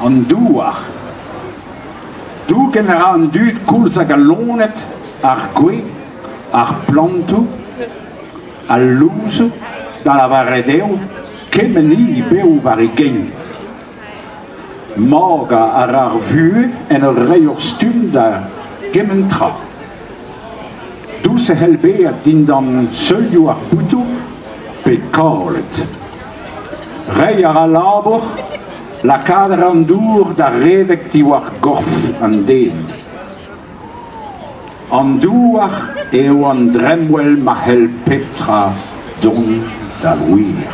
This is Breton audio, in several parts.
An douar. Dougen a ra an dud koulz hag al loened, ar gwez, ar plantoù, al louzoù, da lavaret eo kement hini bev war e gein. Morgañ a ra ar vuhez en ur reiñ ur stumm da gement tra. Dous e c'hell bezañ dindan seulioù ar boutoù pe kaolet. Reiñ a ra labour, lakaat a ra an dour da redek diwar gorf an den. An douar eo an dremmwel ma c'hell pep tra dont da wir.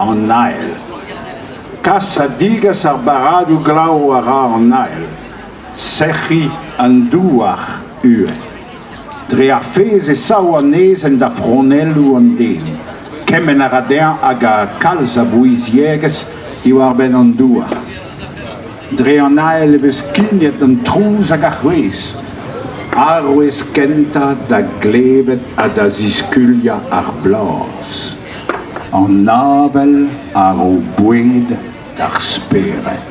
An Ael. Kas ha digas ar barradoù glav a ra an Ael. Sec'hiñ an douar uhel dre ar fezh e sav anezhañ da fronelloù an den. Kemenn a ra dezhañ hag kalz a vouizhiegezh diwar-benn an douar. Dre an ael e vez skignet an trouz hag ar c'hwezh. Arouez kentañ da glevet ha da ziskuliañ ar blaz. An avel a ro boued d'ar spered.